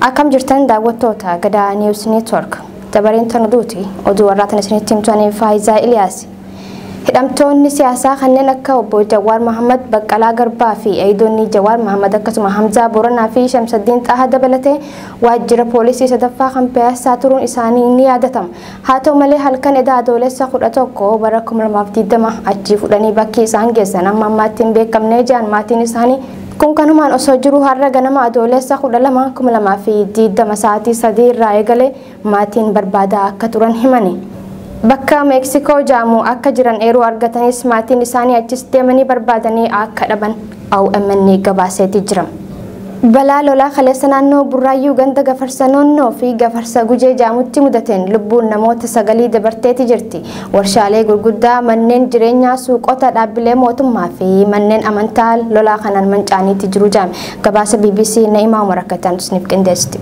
Akkam jirtan daawwattoota Gadaa News Network. Dabareen tan oduuti. Oduu warraatan isinitti himtu ani Faayizaa Iliyaas. Hidhamtoonni siyaasaa kanneen akka obbo Jawaar Mahammad, Baqqalaa Garbaa fi eeyidoonni Jawaar Mahammad akkasuma Hamzaa Booranaa fi Shamsaddiin Xaaha dabalatee waajjira poolisii sadaffaa kan Piyaassaa turuun isaanii ni yaadatama. Haa ta'u malee halkan edaa Adoolessa 11 bara 2020 achii fudhanii bakki isaan geessan amma ammaatti hin beekamne jedhan maatiin isaanii. Kun kanumaan osoo jiru har'a ganama Adoolessa 12 2020 sa'aatii 3 irraa eegalee maatiin barbaadaa akka turan himani. Bakka Meeksikoo jedhamu akka jiran eeruu argatanis maatiin isaanii achis deemanii barbaadanii akka dhaban omn gabaaseeti jira. Balaa lolaa kaleessa naannoo Burraayyuu ganda Gafarsa Noonnoo fi Gafarsa Gujee jedhamutti mudateen lubbuun namoota sagalii dabarteeti jirti. Warshaalee gurguddaa, manneen jireenyaa, suuqota, dhaabbilee mootummaa fi manneen amantaa lolaa kanaan manca'aniiti jiru jedhame. Gabaasa bbc Na'imaa Umar akka itti aanutti isiniif qindeessiti.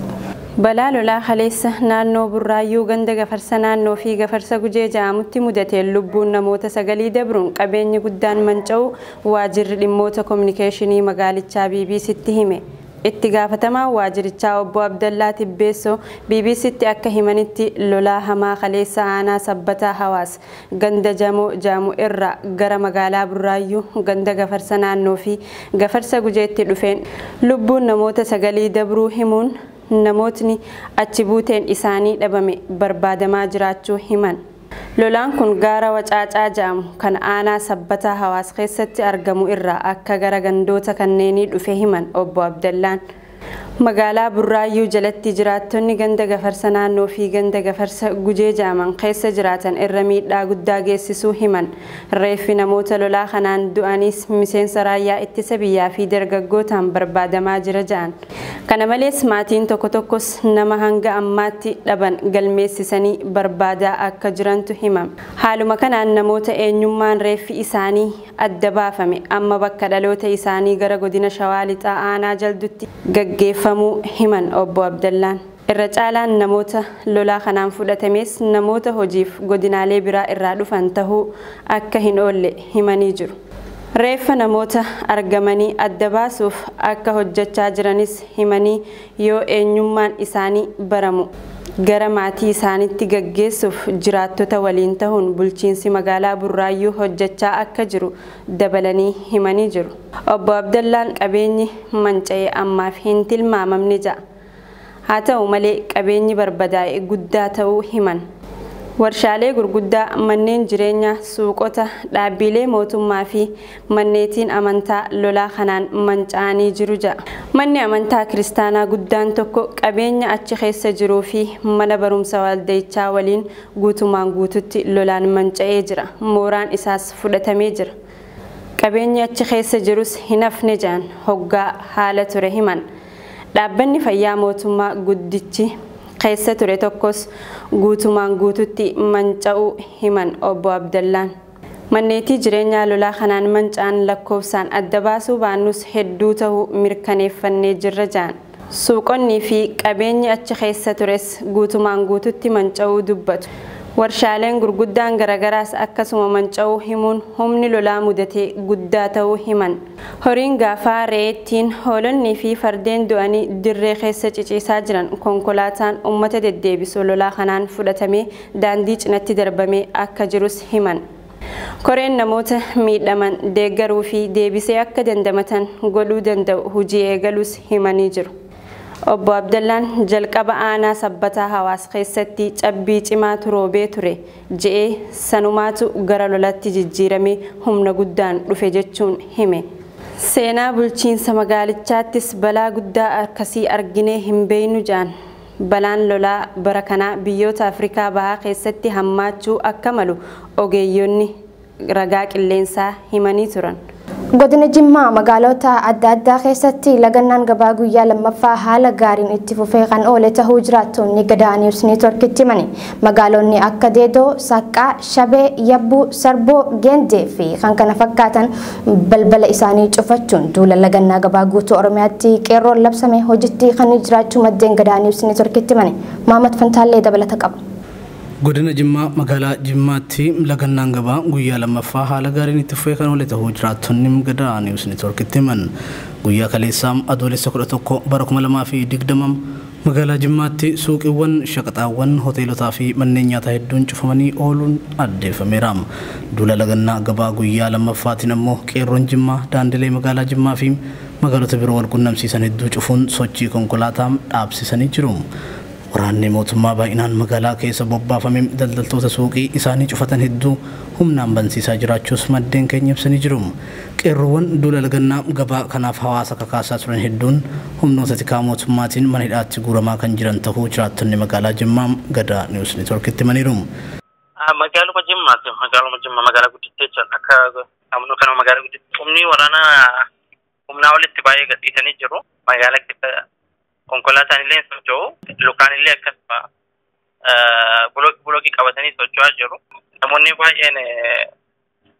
Balaa lolaa kaleessa naannoo Burraayyuu ganda Gafarsa Naannoo fi Gafarsa Gujee jedhamutti mudateen lubbuun namoota sagalii dabruun qabeenyi guddaan manca'uu waajirri dhimmoota kominikeeshinii magaalichaa BBCtti hime. Itti gaafatamaan waajirichaa obbo Abdallaa Tibbeessoo BBCtti akka himanitti lolaa hamaa kaleessa aanaa Sabbataa Hawaas ganda Jamoo jedhamu irraa gara magaalaa Burraayyuu ganda Gafarsa Naannoo fi Gafarsa Gujeetti dhufeen lubbuun namoota sagalii dabruu himuun namootni achi buuteen isaanii dhabame barbaadamaa jiraachuu himan. Lolaan kun gaara Wacaacaa ja'amu kan aanaa Sabbataa Hawaas keessatti argamu irraa akka gara gandoota kanneenii dhufe himan Obbo Abdallaan. Magaalaa Burraayyuu jalatti jiraattonni ganda Gafarsa Naannoo fi ganda Gafarsa Gujee ja'aman keessa jiraatan irra miidhaa guddaa geessisuu himan. Reeffi namoota lolaa kanaan du'aniis miseensa raayyaa ittisa biyyaa fi dargaggootaan barbaadamaa jira ja'an. Kana malees maatiin tokko tokkos nama hanga ammaatti dhaban galmeessisanii barbaadaa akka jirantu himame. Haaluma kanaan namoota eenyummaan reeffi isaanii adda baafame amma bakka dhaloota isaanii gara godina Shawaa Lixaa aanaa Jaldutti gaggeeffamuu himan Obbo Abdallaan. Irra caalaan namoota lolaa kanaan fudhatamees namoota hojiif godinaalee biraa irraa dhufan tahuu akka hin oolle himanii jiru. Reeffa namoota argamanii adda baasuuf akka hojjachaa jiranis himanii yoo eenyummaan isaanii baramu gara maatii isaanitti gaggeessuuf jiraattota waliin tahuun bulchiinsi magaalaa Burraayyuu hojjachaa akka jiru dabalanii himanii jiru. Obbo Abdallaan qabeenyi manca'e ammaaf hin tilmaamamne ja'a. Haa ta'u malee qabeenyi barbadaa'e guddaa ta'uu himan. Warshaalee gurguddaa, manneen jireenyaa, suuqota, dhaabbiilee mootummaa fi manneetiin amantaa lolaa kanaan manca'anii jiru jedha. Manni amantaa kiristaanaa guddaan tokko qabeenya achi keessa jiruu fi mana barumsa waldayichaa waliin guutumaan guututti lolaan manca'ee jira, mooraan isaas fudhatamee jira. Qabeenyi achi keessa jirus hin hafne jedhan hoggaa haala ture himan. Dhaabbanni fayyaa mootummaa guddichi keessa ture tokkos guutumaan guututti manca'uu himan Obbo Abdallaan. Manneetii jireenyaa lolaa kanaan manca'an lakkoofsaan adda baasuu baannus hedduu ta'uu mirkaneeffannee jirra jedhan. Suuqonnii fi qabeenyi achi keessa tures guutumaan guututti manca'uu dubbatu. Warshaaleen gurguddaan garagaraas akkasuma manca'uu himuun humni lolaa mudate guddaa ta'uu himan. Horiin gaafaa, re'eettiin, hoolonnii fi fardeen du'anii dirree keessa ciciisaa jiran konkolaataan uummata deddeebisu lolaa kanaan fudhatamee daandii cinatti darbamee akka jirus himan. Koreen namoota miidhaman deeggaruu fi deebisee akka dandamatan godhuu danda'u hojii eegaluus himanii jiru. Obbo Abdallaan jalqaba aanaa Sabbataa Hawaas keessatti cabbii cimaatu roobee ture. je'e, sanumaatu gara lolatti jijjiirame, humna guddaan dhufe jechuun hime. Seenaa bulchiinsa magaalichaattis balaa guddaa akkasii arginee hin beeynu je'an. Balaan lolaa bara kanaa biyyoota Afrikaa Bahaa keessatti hammaachuu akka malu ogeeyyonni ragaa qilleensaa himanii turan. Godina Jimmaa magaalota adda addaa keessatti lagannaan gabaa guyyaa lammaffaa haala gaariin itti fufee kan oole tahuu jiraattoonni Gadaa News Network'tti himani. Magaalonni akka Deedoo, Saqqaa, Shabee, Yabbuu, Sarboo, Geendee fi kan kana fakkaatan balbala isaanii cufachuun duula lagannaa gabaa guutuu Oromiyaatti qeerroon labsame hojitti hiikanii jiraachuu maddeen Gadaa News Network'tti himani. Maamad Fantaallee dabalata qaba. Godina Jimmaa magaalaa Jimmaatti lagannaan gabaa guyyaa 2ffaa haala gaariin itti fufee kan oole tahuu jiraattonni Gadaa News Network'tti himan. Guyyaa kaleessaa Adoolessa 11 bara 2020 magaalaa Jimmaatti suuqiiwwan, shaqaxaawwan, hoteelotaa fi manneen nyaataa hedduun cufamanii ooluun addeeffameera. Duula lagannaa gabaa guyyaa 2ffaatiin ammoo Qeerroon Jimmaa daandilee magaalaa Jimmaa fi magaalota biroo wal qunnamsiisan hedduu cufuun sochii konkolaataa dhaabsisanii jiru. Waraanni mootummaa baay'inaan magaalaa keessa bobbaafame daldaltoota suuqii isaanii cufatan hedduu humnaan bansiisaa jiraachuus maddeen keenya ibsanii jiru. Qeerroowwan duula lagannaa gabaa kanaaf hawaasa kakaasaa turan hedduun humnoota tikaa mootummaatiin mana hidhaatti guuramaa kan jiran tahuu jiraattonni magaalaa Jimmaa Gadaa News Network'tti himaniiru. Magaaluma Jimmaatti magaaluma Jimmaa magaalaa guddittii jechuun akka amnu kanuma magaalaa guddittii humni waraanaa humnaa olitti baay'ee gadhiisanii jiru. Magaalaa keessa Konkolaataan illee hin socho'u. Lukaan illee akkasuma bulooki bulooki qabatanii socho'aa jiru. Namoonni baay'een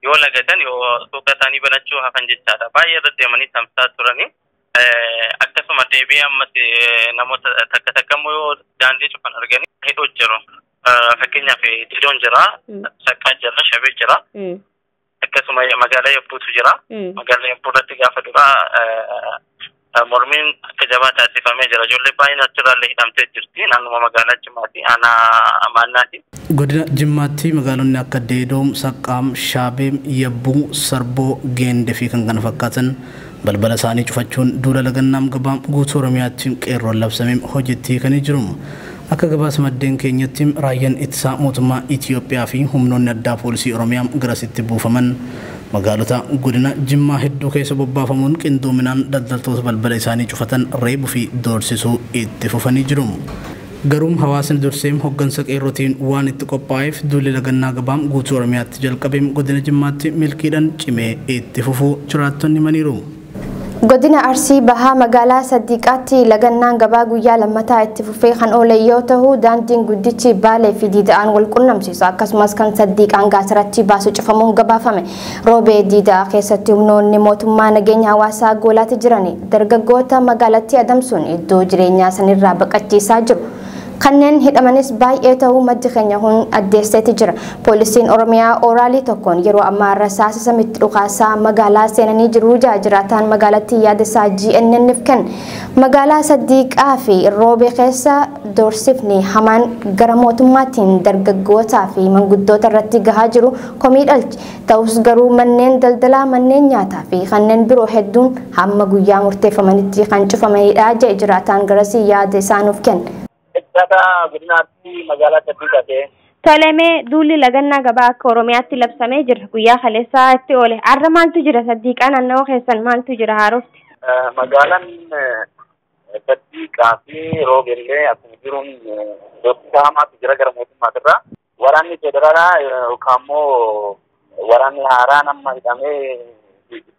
yoo lagatan yoo suuqa isaanii banachuu hafan jechaadha. Baay'ee irra deemanii tamsaa turanii. Akkasuma deebi'ee ammas namoota takka takka immoo yoo daandii cufan arganii hidhuu jiru. Fakkeenyaaf didoon jira, saqqaa jira, shabee jira. akkasuma magaalaa yabbuutu jira. Mm. Magaalaa yabbuu irratti gaafa duraa eh, mormiin akka jabaa taasifamee jira. Ijoollee baay'een achirraallee hidhamtee jirti. Naannuma magaalaa Jimmaati. Aanaa Maannaati. Godina Jimmaatti magaalonni akka Deedoom, Saqqaam, Shaabeem, Yabbuu, Sarboo, Geende fi kan kana fakkaatan Balbala isaanii cufachuun duula lagannaa mgba guutuu Oromiyaatti Qeerroon labsame hojiitti hiikanii jiru. Akka gabaasa maddeen keenyatti Raayyan Ittisaa Mootummaa Itiyoophiyaa fi humnoonni addaa Poolisii Oromiyaa garasitti buufaman magaalota godina Jimmaa hedduu keessa bobbaafamuun qindoominaan daldaltoota balbala isaanii cufatan reebu fi doorsisuu itti fufanii jiru. Garuum hawaasni durseem hoggansa Qeerrotiin waan itti qophaa'eef duulli lagannaa gabaam guutuu Oromiyaatti jalqabeem Godina Jimmaatti milkiidhan cimee itti fufuu jiraattonni himaniiru. Godina Arsii Bahaa Magaalaa Saddiiqaatti lagannaan gabaa guyyaa lammataa itti fufee kan oole yoo tahu daandiin guddichi Baalee fi Diida'aan wal qunnamsiisu akkasumas kan Saddiiqaan Gaasaraatti baasu cufamuun gabaafame. Roobee diidaa keessatti humnoonni mootummaa nageenya hawaasaa goolaatti jiran dargaggoota magaalattii adamsuun iddoo jireenyaa sanirraa baqachiisaa jiru. Kanneen hidhamanis baay'ee ta'uu maddi keenya kun addeesseeti jira. Poolisiin Oromiyaa ooraalii tokkoon yeroo ammaa rasaasa samitti dhukaasaa magaalaa seenanii jiru ja'a jiraataan magaalattii yaadasaa GNN'f kenne. Magaalaa Saddiiqaa fi Roobee keessa doorsifni hamaan gara mootummaatiin dargaggootaa fi manguddoota irratti gahaa jiru komii dhalche. Ta'us garuu manneen daldalaa, manneen nyaataa fi kanneen biroo hedduun hamma guyyaa murteeffamanitti kan cufamanidha jedhe jiraataan garasii yaada isaa nuuf kenne. Jiraataa godina Arsii magaalaa Caffee Caffee. Tole mee duulli lagannaa gabaa akka Oromiyaatti labsamee jira. Guyyaa kaleessaa itti oole. Har'a maaltu jira? Saddiiqaa naannawa keessan maaltu jira haarofti? Magaalaan Saddiiqaa fi Roobeellee akkuma jiruun doorsisaa hamaatu jira gara mootummaatirraa. Waraanni federaalaa yookaan immoo waraanni haaraan amma hidhamee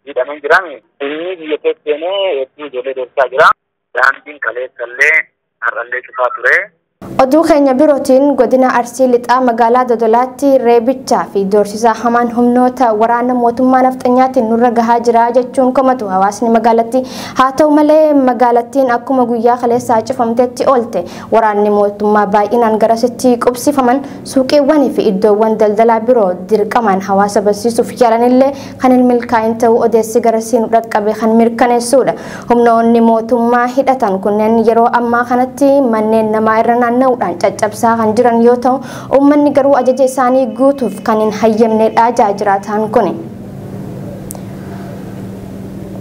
hidhamee jiran inni biyya keessa seenee hedduu ijoollee deemsaa jira. Daandiin kaleessa illee har'allee cufaa ture. Oduu keenya birootiin godina Arsii Lixaa magaalaa Dodolaatti reebichaa fi doorsisaa hamaan humnoota waraana mootummaa nafxanyaatiin nurra gahaa jira jechuun komatu hawaasni magaalattii. Haa ta'u malee magaalattiin akkuma guyyaa kaleessaa cufamtetti oolte. Waraanni mootummaa baay'inaan garasitti qubsifaman suuqiiwwanii fi iddoowwan daldalaa biroo dirqamaan hawaasa bansiisuuf yaalanillee kan hin milkaa'in ta'uu odeessi garasii nu dhaqqabe kan mirkaneessuudha. Humnoonni mootummaa hidhatan kunneen yeroo ammaa kanatti manneen namaa irra naanna'uudhaan caccabsaa kan jiran yoo ta'u, uummanni garuu ajaja isaanii guutuuf kan hin hayyamneedha ja'a jiraataan kuni.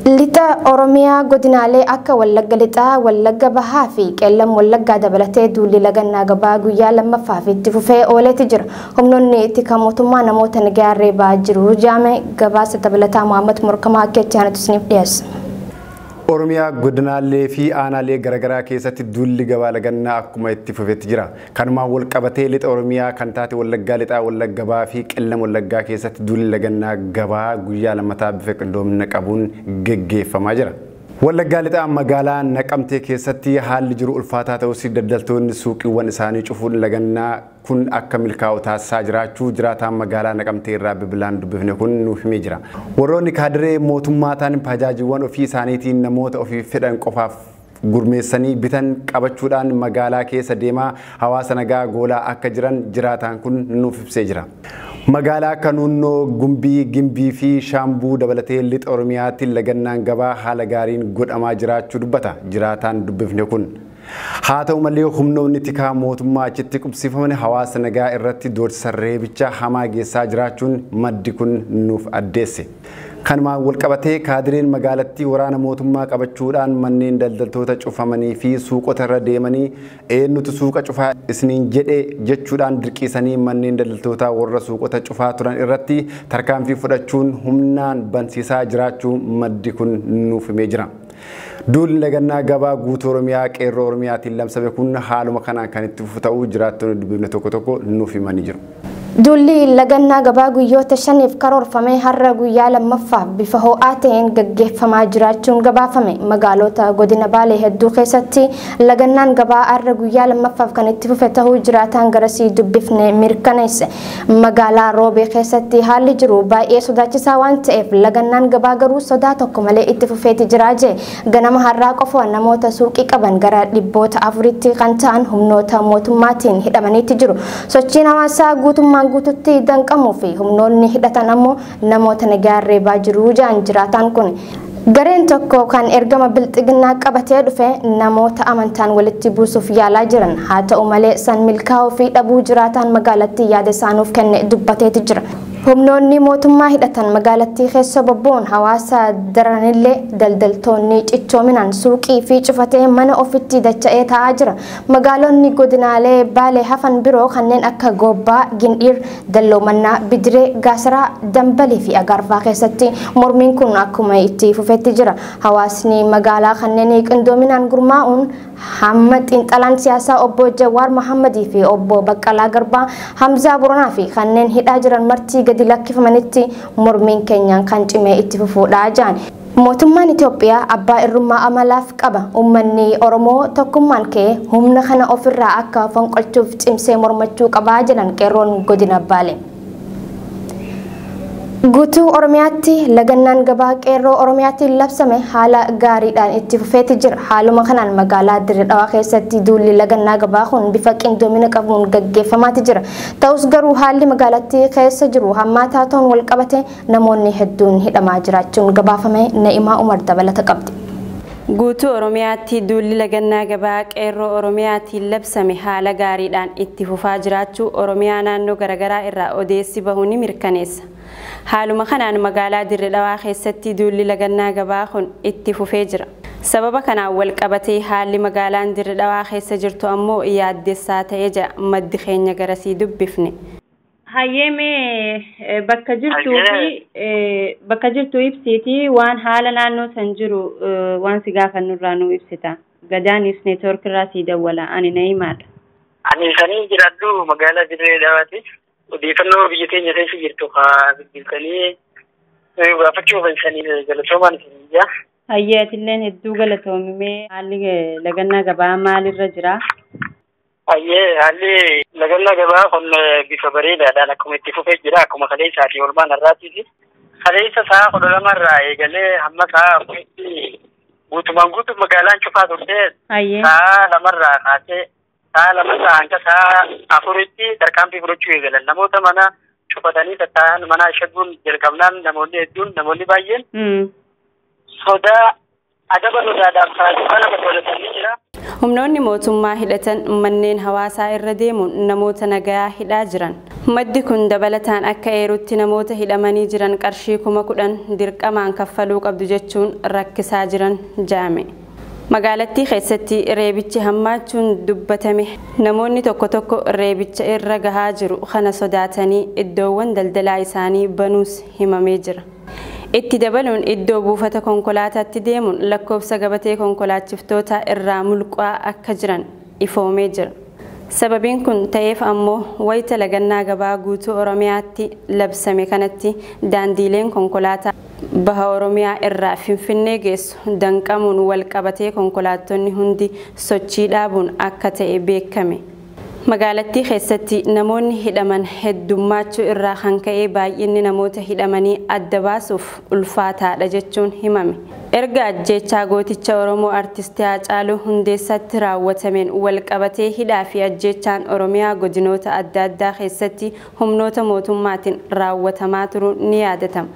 Lixa Oromiyaa godinaalee akka Wallagga Lixaa, Wallagga Bahaa fi Qeellam Wallaggaa dabalatee duulli lagannaa gabaa guyyaa lammaffaa fi itti fufee ooleeti jira. Humnoonni tika mootummaa namoota nagaa reebaa jiru jaame gabaasa dabalataa Mohaammed Morkamaa akka itti aanutti isiniif dhiyeessa. Oromiyaa godinaalee fi aanaalee garaagaraa keessatti duulli gabaa lagannaa akkuma itti fufetti jira. Kanumaan walqabatee Lixa Oromiyaa kan taate Wallaggaa Lixaa, Wallagga Bahaa fi Qellem Wallaggaa keessatti duulli lagannaa gabaa guyyaa lammataa bifa qindoomina qabuun geggeeffamaa jira. Wallaggaa Lixaa magaalaa Naqamtee keessatti haalli jiru ulfaataa ta'us daldaltoonni suuqiiwwan isaanii cufuun lagannaa kun akka milkaa'u taasisaa jiraachuu jiraataan magaalaa Naqamtee irraa bilbilaan dubbifne kun nuuf himee jira. Warroonni kaadiree mootummaa ta'an pajaajiiwwan ofii isaaniitiin namoota ofiif fedhan qofaaf gurmeessanii bitan qabachuudhaan magaalaa keessa deemaa hawaasa nagaa goolaa akka jiran jiraataan kun nuuf ibsee jira. Magaalaa Kanuunnoo, Gumbii, Gimbii fi Shaambuu dabalatee Lixa Oromiyaatti lagannaan gabaa haala gaariin godhamaa jiraachuu dubbata jiraataan dubbifne kun. Haa ta'u malee humnoonni tikaa mootummaa achitti qubsiifaman hawaasa nagaa irratti doorsisa reebicha hamaa geessaa jiraachuun maddi kun nuuf addeesse. Kanumaan walqabatee kaadireen magaalattii waraana mootummaa qabachuudhaan manneen daldaltoota cufamanii fi suuqota irra deemanii eennutu suuqa cufaa isiniin jedhe jechuudhaan dirqiisanii manneen daldaltootaa warra suuqota cufaa turan irratti tarkaanfii fudhachuun humnaan bansiisaa jiraachuu maddi kun nuuf himee jira. Duulli lagannaa gabaa guutuu Oromiyaa qeerroo Oromiyaatiin labsame kun haaluma kanaan kan itti fufu ta'uu jiraattonni dubbifne tokko tokko nuuf himanii jiru. Duulli lagannaa gabaa guyyoota shaniif karoorfame har'a guyyaa lammaffaaf bifa ho'aa ta'een gaggeeffamaa jiraachuun gabaafame. Magaalota godina Baalee hedduu keessatti lagannaan gabaa har'a guyyaa lammaffaaf kan itti fufe ta'uu jiraataan garasii dubbifne mirkaneesse. Magaalaa Roobee keessatti haalli jiru baay'ee sodaachisaa waan ta'eef lagannaan gabaa garuu sodaa tokko malee itti fufeeti jira jee ganama har'aa qofa namoota suuqii qaban gara dhibboota afuritti kan ta'an humnoota mootummaatiin hidhamaniitti jiru. Sochiin hawaasaa guutummaan guututti danqamuu fi humnoonni hidhatan ammoo namoota nagaan reebaa jiru jedhan jiraataan kun. Gareen tokko kan ergama bilxiginnaa qabatee dhufe namoota amantaan walitti buusuuf yaalaa jiran haa ta'u malee san milkaa'uu fi dhabuu jiraataan magaalattii yaada isaa nuuf kenne dubbateeti jira. Humnoonni mootummaa hidhatan magaalattii keessa bobboon hawaasa daranillee daldaltoonni cichoominaan suuqii fi cufatee mana ofitti dacha'ee taa'aa jira. Magaalonni godinaalee baalee hafan biroo kanneen akka Goobbaa, Gindhiir, Dalloo Mannaa, Bidiree, Gaasaraa, Dambalii fi Agaarfaa keessatti mormiin kun akkuma itti fufetti jira. Hawaasni magaalaa kanneenii qindoominaan gurmaa'uun hamma xiinxalaan siyaasaa obbo Jawaar Mahammadii fi obbo Baqqalaa Garbaa, Hamzaa Boronaa fi kanneen hidhaa jiran marti gadi lakkifamanitti mormiin keenyaan kan cimee itti fufuudha jedhan. Mootummaan Itoophiyaa abbaa irrummaa amalaaf qaba. Uummanni Oromoo tokkummaan ka'ee humna kana ofirraa akka fonqolchuuf cimsee mormachuu qaba jedhan qeerroon godina Baale. Guutuu Oromiyaatti lagannaan gabaa qeerroo Oromiyaatiin labsame haala gaariidhaan itti fufeeti jira. Haaluma kanaan magaalaa Dirree Dhawaa keessatti duulli lagannaa gabaa kun bifa qindoomina qabuun gaggeeffamaati jira. Ta'us garuu haalli magaalattii keessa jiru hammaataa ta'uun walqabatee Namoonni hedduun hidhamaa jiraachuun gabaafame, Na'imaa Umar dabalata qabdi. Guutuu Oromiyaatti duulli lagannaa gabaa Qeerroo Oromiyaatiin labsame haala gaariidhaan itti fufaa jiraachuu Oromiyaa naannoo garagaraa irraa odeessi bahu ni mirkaneessa. Haaluma kanaan magaalaa Dirre Dhawaa keessatti duulli lagannaa gabaa kun itti fufee jira. Sababa kanaan walqabatee haalli magaalaan Dirre Dhawaa keessa jirtu ammoo yaaddessaa ta'e jedha maddi keenya garasii dubbifne. Hayyee mee bakka jirtuu fi bakka jirtu ibsiiti waan haala naannoo san jiru waan si gaafannurraa nu ibsita. Gadaanis neetwoorkirraa sii dawwala ani na'imaadha. Ani isanii jiraadhu magaalaa Dirree Dhawaati. Odeeffannoo biyya keenya keessa jirtu haa bilbiltanii gaafachuu kan isanii galatoomaan isin biyyaa. Hayyee atilleen hedduu galatoomimee haalli lagannaa gabaa maalirra jira? Hayyee haalli lagannaa gabaa kun bifa bareedaadhaan akkuma itti fufee jira akkuma kaleessaa fi olmaan har'aattis kaleessa sa'a kudha lama irraa eegalee hamma sa'a afuritti guutumaan guutuu magaalaan cufaa turte Hayyee. sa'a lamarraa kaasee sa'a lamarraa hanga sa'a afuritti tarkaanfii fudhachuu eegalan namoota mana cufatanii tattaa'an manaa shaguun jalqabnaan namoonni hedduun namoonni baay'een Mm. sodaa Adaba sodaadhaaf taasisaa nama toolatan ni jira. Humnoonni mootummaa hidhatan manneen hawaasaa irra deemuun namoota nagayaa hidhaa jiran. Maddi kun dabalataan akka eerutti namoota hidhamanii jiran qarshii kuma kudhan dirqamaan kaffaluu qabdu jechuun rakkisaa jiran jaame. Magaalattii keessatti reebichi hammaachuun dubbatame. Namoonni tokko tokko reebicha irra gahaa jiru kana sodaatanii iddoowwan daldalaa isaanii banuus himamee jira. Itti dabaluun iddoo buufata konkolaataatti deemuun lakkoofsa gabatee konkolaachiftootaa irraa mulquaa akka jiran ifoomee jira. Sababiin kun ta'eef ammoo wayita lagannaa gabaa guutuu Oromiyaatti labsame kanatti daandiileen konkolaataa baha Oromiyaa irraa Finfinnee geessu danqamuun walqabatee konkolaattonni hundi sochii dhaabuun akka ta'e beekame. Magaalattii keessatti namoonni hidhaman heddummaachuu irraa kan ka'e baay'inni namoota hidhamanii adda baasuuf ulfaataadha jechuun himame. Erga ajjeechaa gooticha Oromoo Artisti Haacaaluu Hundeessaatti raawwatameen walqabatee hidhaa fi ajjeechaan Oromiyaa godinoota adda addaa keessatti humnoota mootummaatiin raawwatamaa turuun ni yaadatama.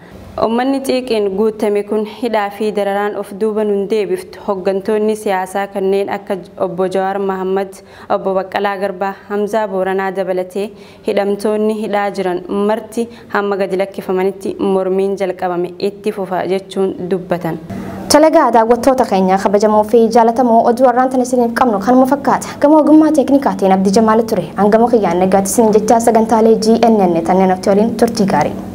Ummanni xiiqiin guuttame kun hidhaa fi dararaan of duuba nun deebiftu, hoggantoonni siyaasaa kanneen akka Obbo Jawaar Mahaammad, Obbo Baqqalaa Garbaa, Hamzaa Booranaa dabalatee hidhamtoonni hidhaa jiran marti hamma gadi lakkifamanitti mormiin jalqabame itti fufa jechuun dubbatan. Tole egaa daawwattoota keenya kabajamoo fi jaalatamoo oduu har'aan tan isiniif qabnu kanuma fakkaata. Gama ogummaa teeknikaatiin Abdii Jamaal ture. An gama kiyyaan nagaatti isiniin jechaa sagantaalee GNN tanneen hafte waliin turtii gaarii.